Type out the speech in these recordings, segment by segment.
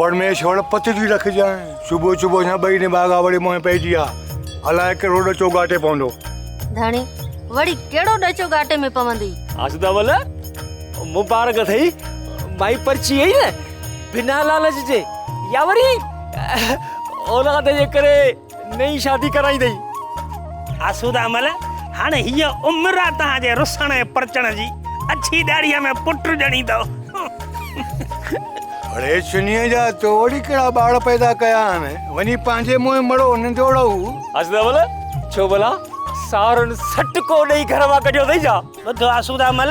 پرميشور پت جي رکجان صبح صبح يا بئي نے باغا وڙي موهي پئجي آ الاء ڪهڙو ڏچو گاٽي پوندو ڌڻي وڙي ڪهڙو ڏچو گاٽي ۾ پوندي آسدا ول مبارڪ اٿئي مائي پرچي اي نه بنا لالچ جي يا وري اولاد جي ڪري نئين شادي ڪرائيندئي. آسوده مل، هاڻي هيء عمر آ توهان جي رسڻ ۽ پرچڻ جي، اڇي ڏاڙهيء ۾ پٽ ڄڻيندؤ. اڙي شنيء جا، تو وري ڪهڙا ٻار پيدا ڪيا آهن، وڃي پنهنجي منهن مڙو ننڊوڙو هو. آسوده مل، ڇو ڀلا ساهرن سٽڪو ڏيئي گهر مان ڪڍيو اٿئي ڇا؟ ٻڌ آسوده مل،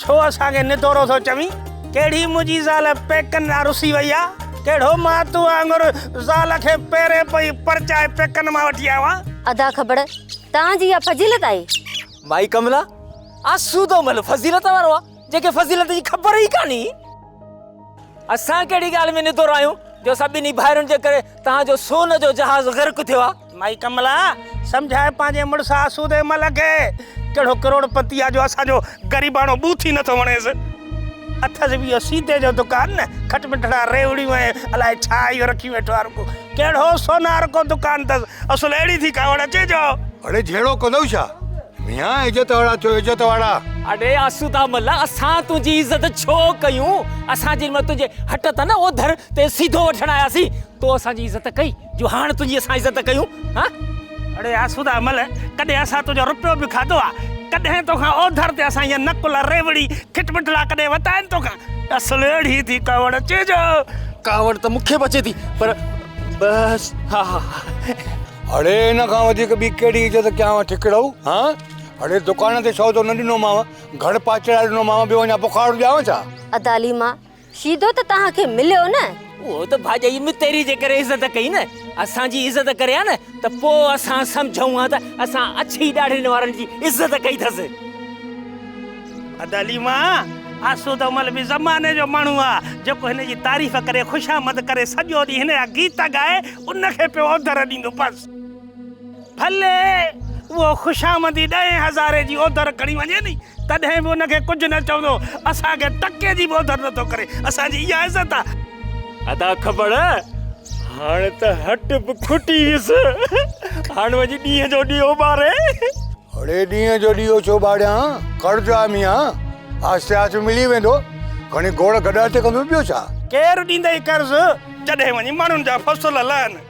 ڇو اسان کي نڌورو ٿو چوين؟ ڪهڙي منهنجي زال پيڪن ڏانهن رسي وئي آ؟ ڪهڙو مان تو وانگر زال کي پيرين پئي پرچائي پيڪن مان وٺي آيو آهيان؟ ادا کبڙ توهان جي اها فضيلت آهي؟ مائي ڪملا، آسودو مل فضيلت وارو آ، جنهن کي فضيلت جي خبر ئي ڪانهي. اسان ڪهڙي ڳالهه ۾ نڌورا آهيون جو اسان ٻنهي ڀائرن جي ڪري توهان جو سون جو جهاز غرق ٿيو آ؟ مائي ڪملا، سمجهاء پنهنجي مڙس آسودي مل کي. ڪهڙو ڪروڙپتي آ جو اسان جو غريباڻو ٻوٿ ئي نٿو وڻيس. اٿس به اهو سيدي جو دڪان نه، کٽ مٺڙا ريوڙيون ۽ الاء ڇا اهو رکي ويٺو آ رڳو. ڪهڙو سونار ڪو دڪان اٿس، اصل اهڙي ٿي ڪاوڙ اچي جو. اڙي جهيڙو ڪندؤ ڇا؟ ميان عزت وارا ٿيو عزت وارا. اڙي آسودا مل اسان تنهنجي عزت ڇو ڪيون. اسان جنهن مهل تنهنجي هٽ تان نه اوڌر تي سيڌو وٺڻ آياسين، تو اسان جي عزت ڪئي. جو هاڻ تنهنجي اسان عزت ڪيون ها؟ اڙي آسوده عمل، ڪڏهن اسان تنهنجو رپيو به کاڌو آ؟ ڪڏهن توکان اوڌر تي اسان جيان نڪل، ريوڙي، کٽمٺلا ڪڏهن ورتا آهن توکان؟ اصل اهڙي ٿي ڪاوڙ اچي جو ڪاوڙ ته مون کي به اچي ٿي پر بس ها ها ها. اڙي ان کان وڌيڪ ٻي ڪهڙي عزت ڪيانو ٺڪڙو ها؟ اڙي دڪان تي سودو نه ڏنومانو، گهڙ پاچڙا ڏنومانو، ٻيو اڃا بخار ڏيانو ڇا؟ ادا عليما، شيدو ته توهان کي مليو نه. اهو ته ڀاڄائي متيري جي ڪري عزت ڪئي نه. اسان جي عزت ڪري ها نه ته پوء اسان سمجهون ها ته اسان اڇي ڏاڙهين وارن جي عزت ڪئي ٿس. ادا ليما، آسوده مل به زماني جو ماڻهو آ، جيڪو هن جي تعريف ڪري، خوشامد ڪري، سڄو ڏينهن هن جا گيت ڳائي، ان کي پيو اوڌر ڏيندو. بس! ڀلي اهو خوشامندي ڏهين هزاري جي اوڌر کڻي وڃي ني تڏهن به ان کي ڪجهه نه چوندو. اسان کي ٽڪي جي به اوڌر نه ٿو ڪري. اسان جي اها عزت آ. ادا کپڙ هاڻ ته هٽ به کٽي ويس. هاڻ وڃي ڏينهن جو ڏيئو ٻاري. اڙي ڏينهن جو ڏيئو ڇو ٻاريان. قرض آ ميان. آهستي آهستي ملي ويندو. کڻي گوڙ گڏا تي ڪندو ٻيو ڇا. ڪير ڏيندئي قرض جڏهن وڃي ماڻهن جا فصل لهن.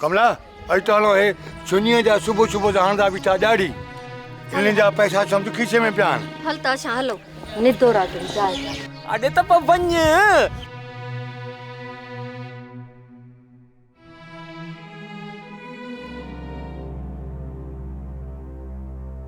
ڪملا! اڄ تو هاڻو هي چنيء جا صبح صبح جا هڻندا بيٺا ڏاڙهي، انهن جا پئسا سمجهه کيسي ۾ پيا آهن. هل ته اسان هلون ندو راتڙي جاء تي. اڙي ته پوء وڃ.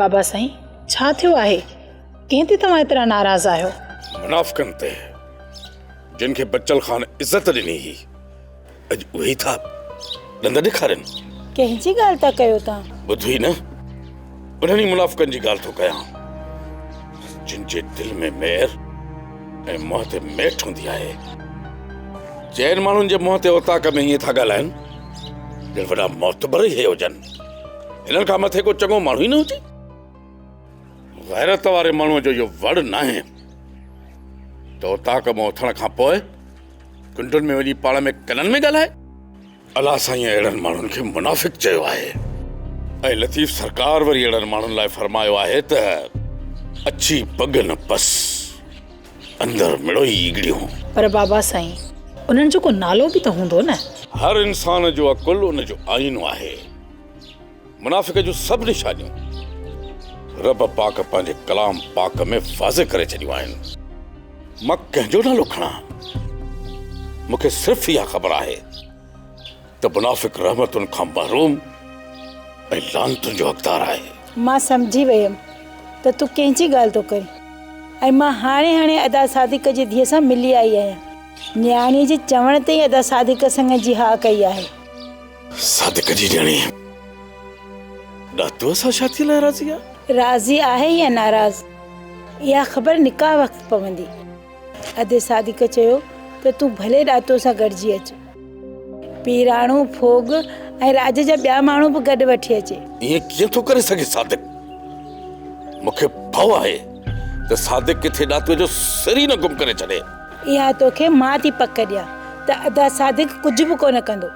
بابا سائين ڇا ٿيو آهي ڪنهن تي توهان ايترا ناراض آهيو منافقن تي جن کي بچل خان عزت ڏني هئي اڄ اهي ٿا ڏند ڏيکارين ڪنهن جي ڳالهه ٿا ڪيو توهان ٻڌ ئي نه انهن ئي منافقن جي ڳالهه ٿو ڪيان، جن جي دل ۾ مير ۽ منهن تي ميٺ هوندي آهي. چئن ماڻهن جي منهن تي اوطاق ۾ ائين ٿا ڳالهائن، ڄڻ وڏا معتبر ئي هي هجن. هنن کان مٿي ڪو چڱو ماڻهو ئي نه هجي. غيرت واري ماڻهوء جو اهو وڙ ناهي ته اوطاق مان اٿڻ کان پوء ڪنڊن ۾ وڃي پاڻ ۾ ڪنن ۾ ڳالهائي. الله سائين اهڙن ماڻهن کي منافق چيو آهي ۽ لطيف سرڪار وري اهڙن ماڻهن لاء فرمايو آهي ته اڇي پڳ نه پس اندر مڙوئي ايڳڙيون. پر بابا سائين انهن جو ڪو نالو به ته هوندو نه. هر انسان جو عقل ان جو آئينو آهي. منافق جون سڀ نشانيون رب پاڪ پنهنجي ڪلام پاڪ ۾ واضح ڪري ڇڏيون آهن. مان ڪنهن جو نالو کڻان؟ مون کي صرف اها خبر آهي ته منافق رحمتن کان محروم ۽ لعنتن جو حقدار آهي. مان سمجهي ويم ته تون ڪنهن جي ڳالهه ٿو ڪرين ۽ مان هاڻي هاڻي ادا صادق جي ڌيء سان ملي آئي آهيان. نياڻي جي چوڻ تي ئي ادا صادق سڱ جي ها ڪئي آهي. صادق جي ڄڻي ڏاتو سان شادي لاء راضي آ. راضي آهي يا ناراض اها خبر نڪاح وقت پوندي. ادي صادق چيو ته تون ڀلي ڏاتو سان گڏجي اچ. پيراڻو، ڦوڳ ۽ راڄ جا ٻيا ماڻهو به گڏ وٺي اچي. ائين ڪيئن ٿو ڪري سگهي صادق. مون کي ڀئو آهي ته صادق ڪٿي ڏاتو جو سر ئي نه گم ڪري ڇڏي. اها توکي مان ٿي پڪ ڏيان ته ادا صادق ڪجهه به ڪونه ڪندو.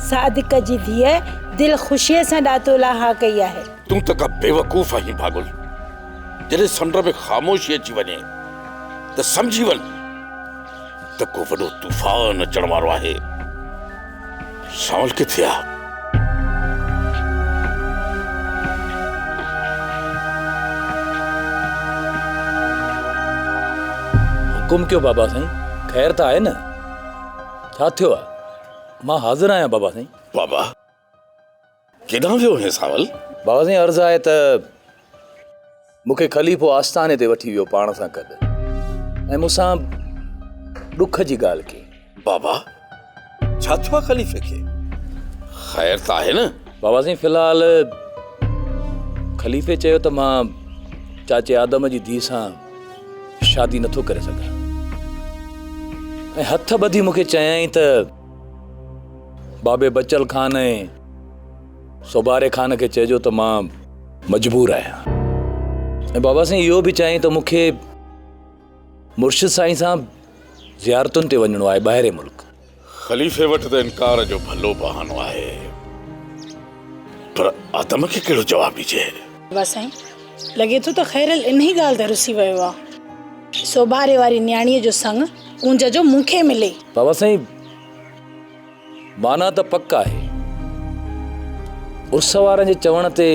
صادق جي ڌيء دل خوشيء سان ڏاتو لاء ها ڪئي آهي. تون ته ڪا بيوقوف آهين پاڳل. جڏهن سمنڊ ۾ خاموشي اچي وڃي ته سمجهي وڃ ته ڪو وڏو طوفان اچڻ وارو آهي. شال ڪٿي آ؟ حڪم ڪيو بابا سائين خير ته آهي نه ڇا ٿيو آ مان حاضر آهيان بابا سائين. بابا ڪيڏانهن ويو هين سانول؟ بابا سائين عرض آهي ته مون کي خليفو آستاني تي وٺي ويو پاڻ سان گڏ ۽ مون سان ڏک جي ڳالهه ڪئي. بابا ڇا ٿيو آهي خليفي کي؟ خير ته آهي نه؟ بابا سائين في الحال خليفي چيو ته مان چاچي آدم جي ڌيء سان شادي نٿو ڪري سگهان ۽ هٿ ٻڌي مون کي چيائين ته بابي بچل خان ۽ سوڀاري خان کي چئجو ته مان مجبور آهيان ۽ بابا سائين اهو به چيائين ته مون کي مرشد سائين سان زيارتن تي وڃڻو آهي ٻاهرين ملڪ خليفي وٽ ته انڪار جو ڀلو بهانو آهي پر آدم کي ڪهڙو جواب ڏجي واه سائين لڳي ٿو ته خيرل انهي ڳالهه تي رسي ويو آ. سوڀاري واري نياڻيء جو سڱ ڪونج جو مون کي ملي. بابا سائين معنيٰ ته پڪ آهي. عرس وارن جي چوڻ تي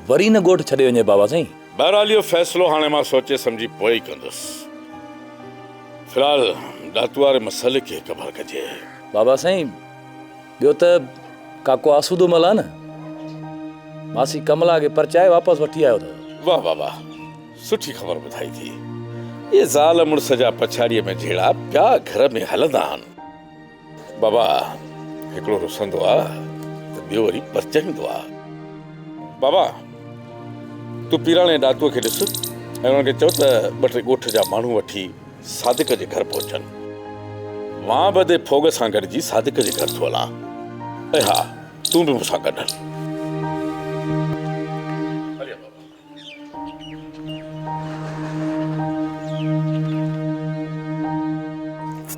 وري نه ڳوٺ ڇڏي وڃي بابا سائين. بهرحال اهو فيصلو هاڻي مان سوچي سمجهي پوء ئي ڪندس. في الحال ڏاتو واري مسئلي کي قبر ڪجي. بابا سائين ٻيو ته ڪاڪو آسودو ملان نه ماسي ڪملا کي پرچائي واپس وٺي آيو اٿو. واھ واھ واھ سٺي خبر ٻڌائي ٿي. اهي زال مڙس جا پڇاڙيء ۾ جهيڙا پيا گهر ۾ هلندا آهن. بابا هڪڙو رسندو آ ته ٻيو وري پرچائيندو آ. بابا تون پيراڻي ڏاتوء کي ڏس ۽ انهن کي چئو ته ٻه ٽي ڳوٺ جا ماڻهو وٺي صادق جي گهر پهچن. مان به ادي ڦوڳ سان گڏجي صادق جي گهر ٿو هلان. ۽ ها تون به مون سان گڏ هل. هليا بابا.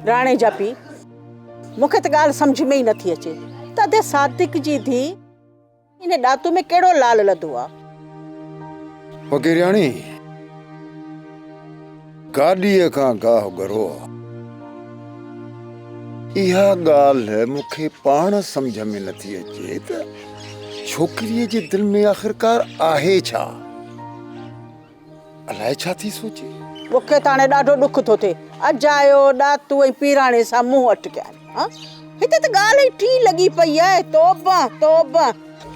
راڻي جا پيء، مون کي ته ڳالهه سمجهه ۾ ئي نٿي اچي ته ادي صادق جي ڌيء. ان ڏاتو ۾ ڪهڙو لال لڌو آ؟ فقيرياڻي گاڏيء کان گاهه ڳرو آ. اها ڳالهه مون کي پاڻ سمجهه ۾ نه ٿي اچي ته ڇوڪريء جي دل ۾ آخرڪار آهي ڇا؟ الائي ڇا ٿي سوچي. مون کي ته هاڻي ڏاڍو ڏک ٿو ٿئي. اجايو، ڏاتو ۽ پيراڻي سان منهن اٽڪيائين. هان، هتي ته ڳالهه ئي ٽيئي لڳي پئي آهي. توبه، توبه.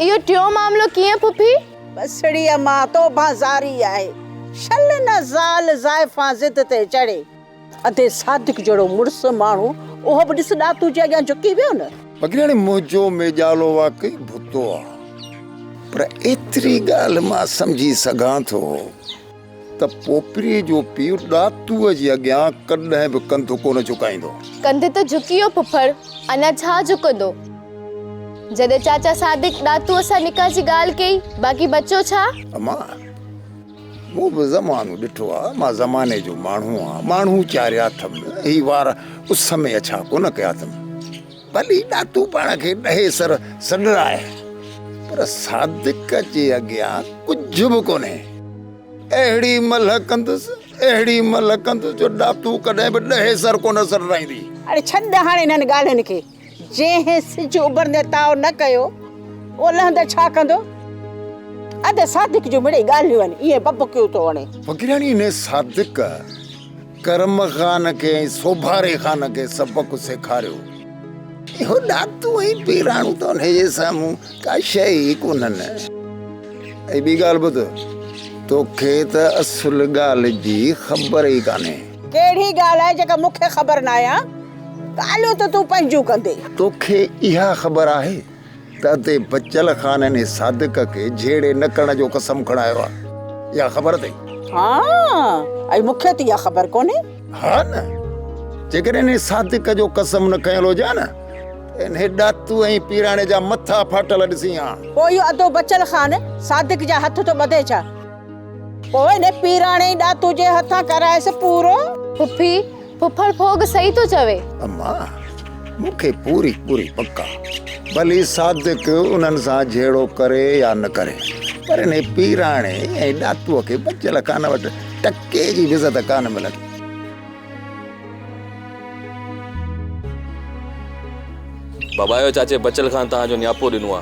اهو ٽيون معاملو ڪيئن پڦي؟ بسڙي امان، توبه زاري آهي. شل نه زال زائفان ضد تي چڙهي. ادي صادق جهڙو مڙس ماڻهو اهو به ڏس ڏاتو جي اڳيان جهڪي ويو نه. پگهراڻي منهنجو ميڄالو واقعي ڀتو آ پر ايتري ڳالهه مان سمجهي سگهان ٿو ته پوپري جو پيء ڏاتوء جي اڳيان ڪڏهن به ڪنڌ ڪونه جهڪائيندو. ڪنڌ ته جهڪي ويو ڦڦڙ اڃا ڇا جهڪندو. جڏهن چاچا صادق ڏاتوء سان نڪاح جي ڳالهه ڪئي باقي بچو ڇا؟ امان! مون به زمانو ڏٺو آ، مان زماني جو ماڻهو آهيان، ماڻهو چاريا اٿم، هي وار اس ۾ اڇا ڪونه ڪيا اٿم، ڀلي ڏاتو پاڻ کي ڏهي سر سڏرائي، پر صادق جي اڳيان ڪجهه به ڪونهي، اهڙي ملهه ڪندس، اهڙي ملهه ڪندس جو ڏاتو ڪڏهن به ڏهي سر ڪونه سڏرائيندي. اڙي ڇڏ هاڻ انهن ڳالهين کي. جنهن سج اڀرندي تاء نه ڪيو، اهو لهندي ڇا ڪندو؟ ادي صادق جون مڙئي ڳالهيون آهن، ائين ٻٻڪيون ٿو هڻي. فقيراڻيء ۾ صادق ڪرم خان کي ۽ سوڀاري خان کي سبق سيکاريو. اهو ڏاتو ۽ پيراڻو ته انهيء جي سامهون ڪا شيء ئي ڪونهن. ۽ ٻي ڳالهه ٻڌ، توکي ته اصل ڳالهه جي خبر ئي ڪانهي. ڪهڙي ڳالهه آهي جيڪا مون کي خبر ناهي ها؟ ڳالهيون ته تون پنهنجون ڪندي. توکي اها خبر آهي ته اتي بچل خان انهي صادق کي جهيڙي نه ڪرڻ جو قسم کڻايو آهي. اها خبر اٿئي؟ ها ۽ مون کي ته اها خبر ڪونهي. ها نه! جيڪڏهن انهي صادق جو قسم نه کنيل هجي ها نه ته انهي ڏاتو ۽ پيراڻي جا مٿا ڦاٽل ڏسين ها. پوء اهو ادو بچل خان صادق جا هٿ ٿو ٻڌي ڇا؟ پوء ڏي پيراڻي ڏاتو جي هٿان ڪرائيس پورو. پڦي، پڦڙ ڦوڳ صحيح ٿو چوي. اما، مون کي پوري پوري پڪ آ. ڀلي صادق انهن سان جهيڙو ڪري يا نه ڪري، پر انهي پيراڻي ۽ ڏاتوء کي بچيل خان وٽ ٽڪي جي به عزت ڪانه ملندي. بابايو چاچي بچيل خان توهان جو نياپو ڏنو آ.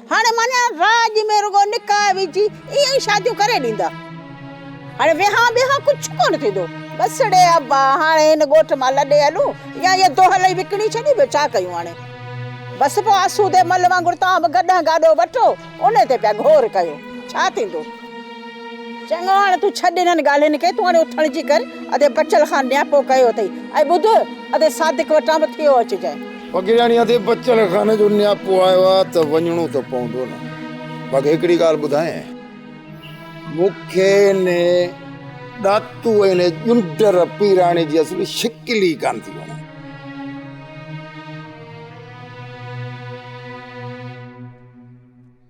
هاڻي معنيٰ راڄ ۾ رڳو نڪاح وجهي اهي ئي شاديون ڪري ڏيندا. هاڻي ويهان ٻيهان ڪجهه ڪونه ٿيندو. ٻسڙي ابا هاڻي هن ڳوٺ مان لڏي هلون يا هيء دونهل ئي وڪڻي ڇڏي ٻيو ڇا ڪيون هاڻي. بس پوء آسودي مل وانگر توهان به گڏهن گاڏو وٺو انهي تي پيا گهور ڪيو. ڇا ٿيندو. چڱو هاڻي تون ڇڏ انهن ڳالهين کي تون هاڻي اٿڻ جي ڪر ادي بچل خان نياپو ڪيو اٿئي ۽ ٻڌ ادي صادق وٽان به ٿيو اچجانء. فقيراڻي هٿي بچل خانه جو نياپو آيو آ ته وڃڻو ته پوندو نه. باقي هڪڙي ڳالهه ٻڌاينء. مون کي ان ڏاتو ۽ ان ڄنڊر پيراڻي جي اصل شڪل ئي ڪانه ٿي وڻي.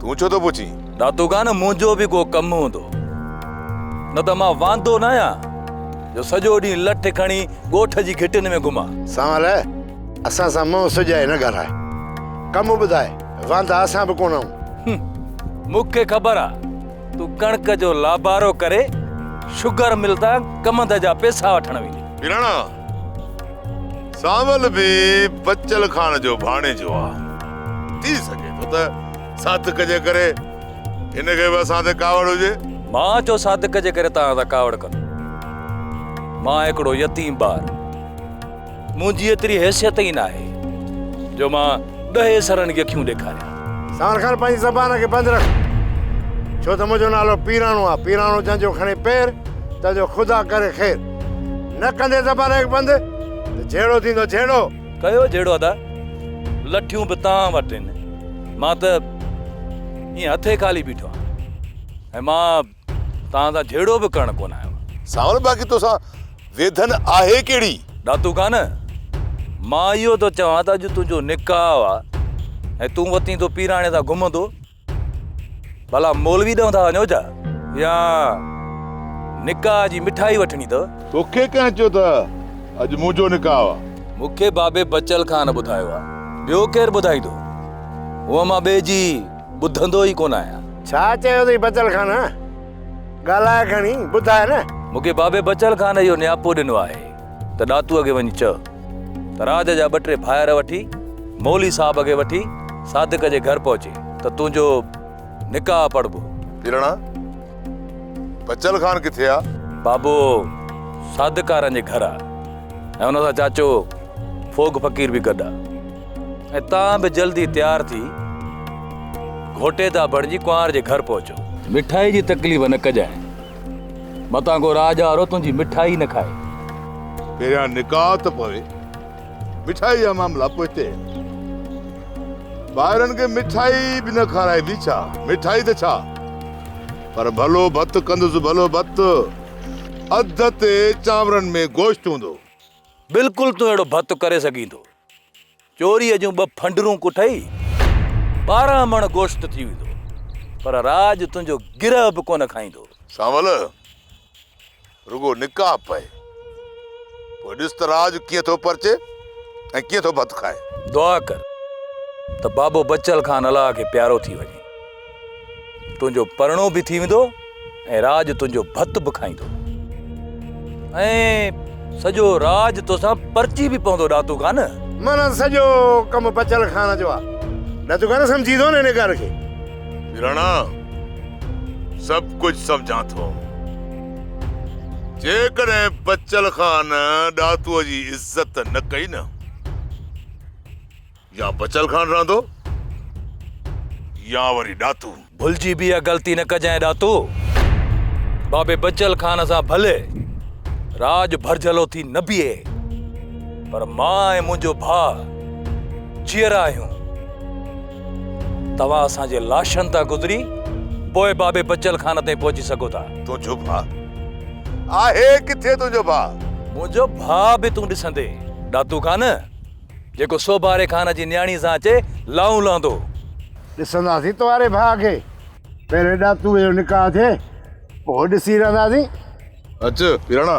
تون ڇو ٿو پڇين؟ ڏاتو خان منهنجو به ڪو ڪم هوندو نه ته مان واندو نه آهيان جو سڄو ڏينهن لٺ کڻي ڳوٺ جي گهٽين ۾ گهمان. سنوار اسان سان منهن سجائي نه ڳالهاء ڪم ٻڌاء واندا اسان به ڪونه آهون. مون کي خبر آ تون ڪڻڪ جو لابارو ڪري شگر مل تان ڪمند جا پيسا وٺڻ ويندين. پراڻا سانول به بچل خان جو ڀاڻيجو آ. ٿي سگهي ٿو ته صادق جي ڪري هن کي به اسان تي ڪاوڙ هجي. مان ڇو صادق جي ڪري توهان تان ڪاوڙ ڪندو. مان هڪڙو يتيم ٻار. منهنجي ايتري حيثيت ئي ناهي جو مان ڏهي سرن کي اکيون ڏيکاريان. سانول خان پنهنجي زبان کي بند رک ڇو ته منهنجو نالو پيراڻو آ. پيراڻو جنهن جو کڻي پير تنهن جو خدا ڪري خير. نه ڪندي زبان کي بند ته جهيڙو ٿيندو جهيڙو. ڪيو جهيڙو ادا لٺيون به توهان وٽ آهن مان ته ائين هٿي خالي بيٺو آهيان ۽ مان توهان سان جهيڙو به ڪرڻ ڪونه آيو آهيان. سانول باقي توسان ويڌن آهي ڪهڙي؟ ڏاتو خان مان اهو ٿو چوان ته اڄ تنهنجو نڪاح آهي ۽ تون وتين ٿو پيراڻي سان گهمندو. ڀلا مولوي ڏانهن ٿا وڃو ڇا؟ يا نڪاح جي مٺائي وٺڻي اٿو؟ توکي ڪنهن چيو ته اڄ منهنجو نڪاح آ؟ مونکي بابي بچل خان ٻڌايو آ، ٻيو ڪير ٻڌائيندو؟ هونئن مان ٻئي جي ٻڌندو ئي ڪونه آهيان. ڇا چيو اٿئي بچل خان؟ ڳالهاء کڻي، ٻڌاء نه. مونکي بابي بچل خان اهو نياپو ڏنو آهي. ته ڏاتوء کي وڃي چئه ته راڄ جا ٻه ٽي ڀائر وٺي مولوي صاحب کي وٺي صادق جي گهر پهچي ته تنهنجو نڪاح پڙهبو. پيرڻا، بچل خان ڪٿي آ؟ بابو صادق ڪارن جي گهر آ ۽ ان سان چاچو ڦوڳ فقير به گڏ آ ۽ تان به جلدي تيار ٿي گهوٽيدا بڻجي ڪنوار جي گهر پهچو. مٺائي جي تڪليف نه ڪجانء. متان ڪو راڄ وارو تنهنجي مٺائي نه کائي. پهريان نڪاح ته پوي مٺائي جا معاملا پوئتي. ڀائرن کي مٺائي به نه کارائبي ڇا؟ مٺائي ته ڇا پر ڀلو ڀت ڪندس ڀلو ڀت. اڌ تي چانورن ۾ گوشت هوندو. بلڪل تون اهڙو ڀت ڪري سگهين ٿو. چوريء جون ٻه ڦنڊرون ڪٺئي، ٻارهن مڻ گوشت ٿي ويندو، پر راڄ تنهنجو گرهه به ڪونه کائيندو. سانول، رڳو نڪاح پئي، پوء ڏس ته راڄ ڪيئن ٿو پرچي ۽ ڪيئن ٿو ڀت کائي. دعا ڪر ته بابو بچل خان الله کي پيارو ٿي وڃي. تنهنجو پرڻو به ٿي ويندو ۽ راڄ تنهنجو ڀت به کائيندو ۽ سڄو راڄ توسان پرچي به پوندو ڏاتو کان نه مانا سڄو ڪم بچل خان جو آهي ڏاتو کان نه سمجهي ٿو نه هن ڳالهه کي رڻا سڀ ڪجهه سمجهان ٿو جيڪڏهن بچل خان ڏاتو جي عزت نه ڪئي نه يا بچل خان رهندو يا وري ڏاتو. ڀلجي به اها غلطي نه ڪجانء ڏاتو. بابي بچل خان سان ڀلي راڄ ڀرجهلو ٿي نه بيهي پر مان ۽ منهنجو ڀاء جيئرا آهيون. توهان اسان جي لاشن تان گذري پوء بابي بچل خان تائين پهچي سگهو ٿا. تنهنجو ڀاء آهي ڪٿي تنهنجو ڀاء؟ منهنجو ڀاء به تون ڏسندين ڏاتو خان. جيڪو سوڀاري خان جي نياڻي سان اچي لائون لهندو هو. ڏسنداسين توهاري ڀاء کي. پهرين ڏاتوء جو نڪاح ٿئي، پوء ڏسي رهنداسين. اچ پيراڻا.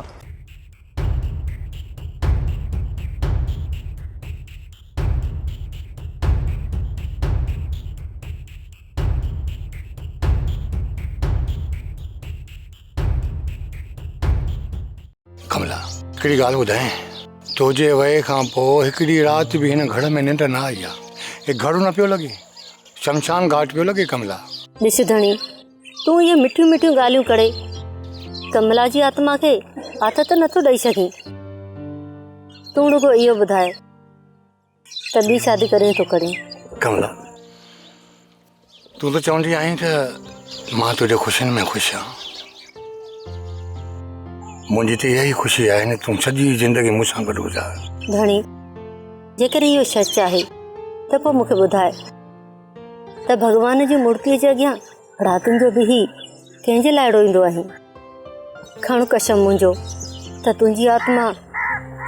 ڪملا! هڪڙي ڳالهه ٻڌايانء، تنهنجي ويئي کان پوء هڪ ڏينهن رات به هن گهڙ ۾ ننڊ نه آئي آهي. اهو گهڙ نه پيو لڳي، شمشان گهاٽ پيو لڳي ڪملا! ڏس ڌڻي، تون اهي مٺيون مٺيون ڳالهيون ڪڙي، ڪملا جي آتما کي آٿت نه ٿو ڏئي سگهين. تون رڳو اهو ٻڌاء. ته ٻي شادي ڪري ٿو ڪرين. ڪملا تون ته چوندي آهين ته مان تنهنجي خوشين ۾ خوش آهان. منهنجي ته اها ئي خوشي آهي نه تون سڄي زندگي مون سان گڏ گذار. ڌڻي جيڪر اهو سچ آهي ته پوء مون کي ٻڌاء ته ڀڳوان جي مورتيء جي اڳيان راتين جو به هي ڪنهن جي لاء روئيندو آهين کڻ قسم منهنجو ته تنهنجي آتما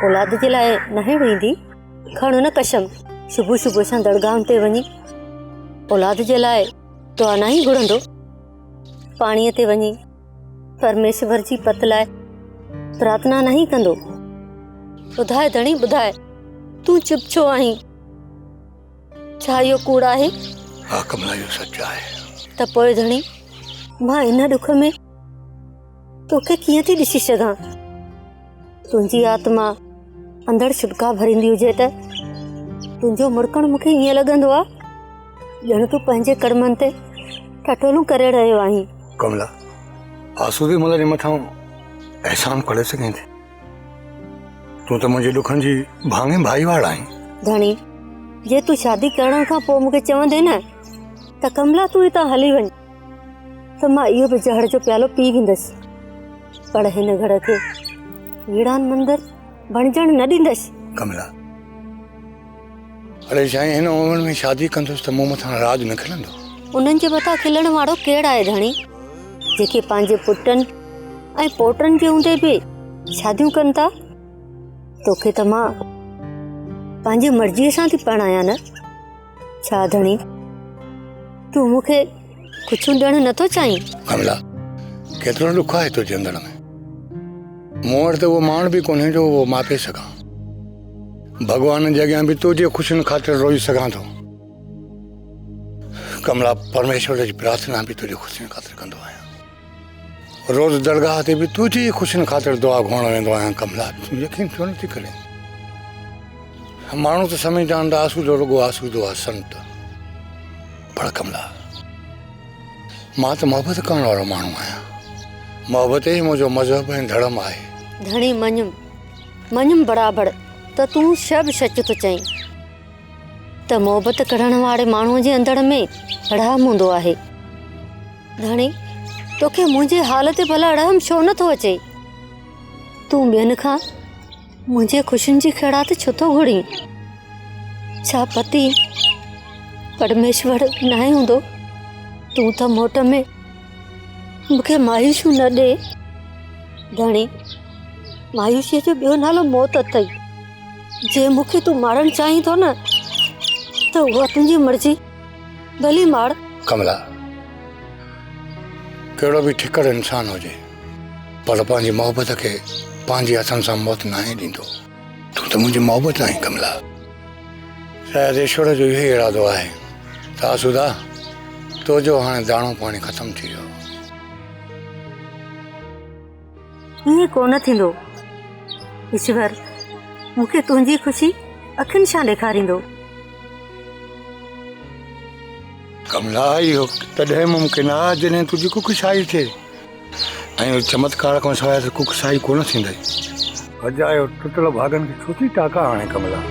اولاد جي لاء ناهي روئيندي کڻ نه قسم صبح صبح سان درگاهن تي وڃي اولاد جي لاء دعا ناهي گهرندو پاڻيء تي وڃي پرميشور جي پت لاء پرارٿنا ناهي ڪندو ٻڌاء ڌڻي ٻڌاء تون چپ ڇو آهين ڇا اهو ڪوڙ آهي؟ ها ڪملا اهو سچ آهي. ته پوء ڌڻي مان ان ڏک ۾ توکي ڪيئن ٿي ڏسي سگهان؟ تنهنجي آتما اندر ڇڏڪا ڀريندي هجي ته تنهنجو مرڪڻ مونکي ائين لڳندو آهي ڄڻ تون پنهنجي ڪڙمن تي ٺٺولون ڪري رهيو آهين. ڪملا آسودي ملهه جي مٿان احسان پڙهي سگهين ٿي. تون ته منهنجي ڏکن جي ڀاڱي ڀائيواڙ آهين ڌڻي جي تون شادي ڪرڻ کان پوء مونکي چوندين نه ته ڪملا تون هتان هلي وڃ ته مان اهو به زهر جو پيالو پي ويندس پر هن گهر کي ويڙان مندر بڻجڻ نه ڏيندس ڪملا اڙي سائين هن عمر ۾ شادي ڪندس ته مون مٿان راڄ نه کلندو. انهن جي مٿان کلڻ وارو ڪير آهي ڌڻي جيڪي پنهنجي پٽن ۽ پوٽن جي هوندي به شاديون ڪن ٿا توکي ته مان پنهنجي مرضيء سان ٿي پرڻايان نه ڇا ڌڻي تون مونکي ڪڇون ڏيڻ نه ٿو چاهين؟ ڪملا، ڪيترو ڏک آهي تنهنجي اندر ۾. مون وٽ ته اهو ماڻ به ڪونهي جو اهو ماپي سگهان. ڀڳوانن جي اڳيان به تنهنجي خوشين خاطر روئي سگهان ٿو. ڪملا، پرميشور جي پرارٿنا به تنهنجي خوشين خاطر ڪندو آهيان. روز درگاهه تي به تنهنجي ئي خوشين خاطر دعا گهرڻ ويندو آهيان ڪملا تون يقين ڇو نٿي ڪرين ماڻهو ته سمجهي جان ته آسودو رڳو آسودو آهي سنت پر ڪملا مان ته محبت ڪرڻ وارو ماڻهو آهيان محبت ئي منهنجو مذهب ۽ ڌڙم آهي ڌڻي مڃيم مڃيم برابر ته تون شب سچ ٿو چئين ته محبت ڪرڻ واري ماڻهو جي اندر ۾ رحم هوندو آهي ڌڻي، توکي منهنجي حال تي ڀلا رحم ڇو نه ٿو اچي؟ تون ٻين کان منهنجي خوشين جي خيرات ڇو ٿو گهرين؟ ڇا پتي پرميشور ناهي هوندو؟ تون ته موٽ ۾ مونکي مايوسيون نه ڏي. ڌڻي، مايوسيء جو ٻيو نالو موت اٿئي. جي مونکي تون مارڻ چاهين ٿو نه ته اها تنهنجي مرضي. ڀلي ماڙ. ڪملا ڪهڙو به ٺڪر انسان هجي پر پنهنجي محبت کي پنهنجي هٿن سان موت ناهي ڏيندو. تون ته منهنجي محبت آهين ڪملا. شايد ايشور جو اهو ئي ارادو آهي ته آسودا تو جو هاڻي داڻو پاڻي ختم ٿي ويو. ائين ڪو نه ٿيندو. ايشور مون کي تنهنجي خوشي اکين شان ڏيکاريندو. ڪملا اهو تڏهن ممڪن آ جڏهن تنهنجي ڪکشائي ٿئي ۽ چمتڪار کان سواء ته ڪکشائي ڪو نه ٿيندئي. اجا اهو ٽٽل ڀاڳن کي ڇو ٿي ٽاڪا هڻين ڪملا.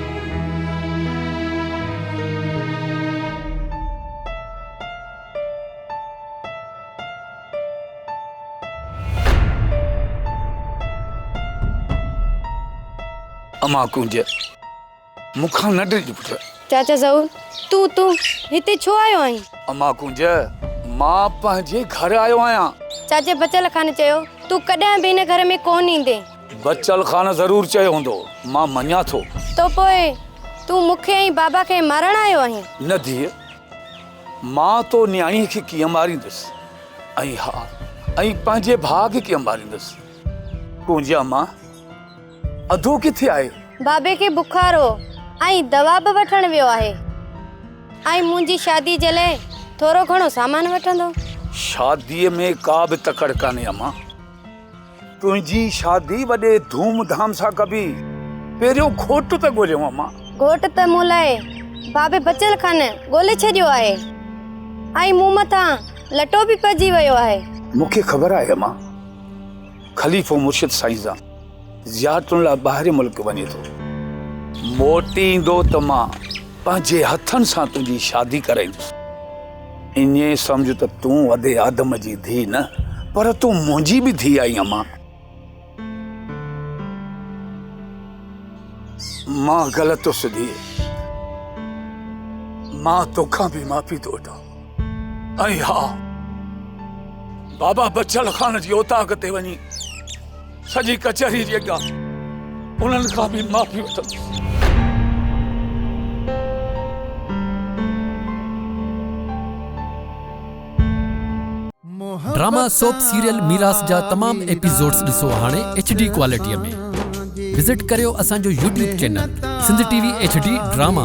امان ڪنج مون کان نه ڊڄ پٽ. چاچا ظهور تون تون هتي ڇو آيو آهين؟ امان ڪنج مان پنهنجي گهر آيو آهيان. چاچي بچل خان چيو تون ڪڏهن به هن گهر ۾ ڪونه ايندين. بچل خان ضرور چيو هوندو مان مڃان ٿو. ته پوء تون مون کي ۽ بابا کي مارڻ آيو آهين؟ نه ڌيء. مان تو نياڻيء کي ڪيئن ماريندس ۽ ها ۽ پنهنجي ڀاء کي ڪيئن ماريندس. ڪونجيا مان اڌو ڪٿي آهي؟ بابي کي بخار هو ۽ دوا به وٺڻ ويو آهي ۽ منهنجي شادي جي لاء ٿورو گهڻو سامان وٺندو. شاديء ۾ ڪا به تڪڙ ڪانهي امان. تنهنجي شادي وڏي ڌوم ڌام سان ڪبي. پهريون گهوٽ ته ڳوليون امان. گهوٽ ته مون لاء بابي بچل خان ڳولي ڇڏيو آهي ۽ مون مٿان لٽو به پئجي ويو آهي. مون کي خبر آهي امان. خليفو مرشد سائين جان زيارتن لاء ٻاهرين ملڪ وڃي ٿو. موٽي ايندو ته مان پنهنجي هٿن سان تنهنجي شادي ڪرائيندس. ايئن سمجهه ته تون وڏي آدم جي ڌيء نه پر تون منهنجي به ڌيء آهين اما. مان غلط هوس ڌيء. مان توکان به معافي ٿو وٺان. ۽ ها بابا بچل خان جي اوطاق تي وڃي سڄي ڪچهري جي اڳيان انهن کان به معافي وٺندس. ڊراما سوپ سيريل ميراث جا تمام ايپيسوڊز ڏسو هاڻي ايڇ ڊي ڪوالٽيء ۾ وزٽ ڪريو اسان جو YouTube channel Sindh T V H D drama.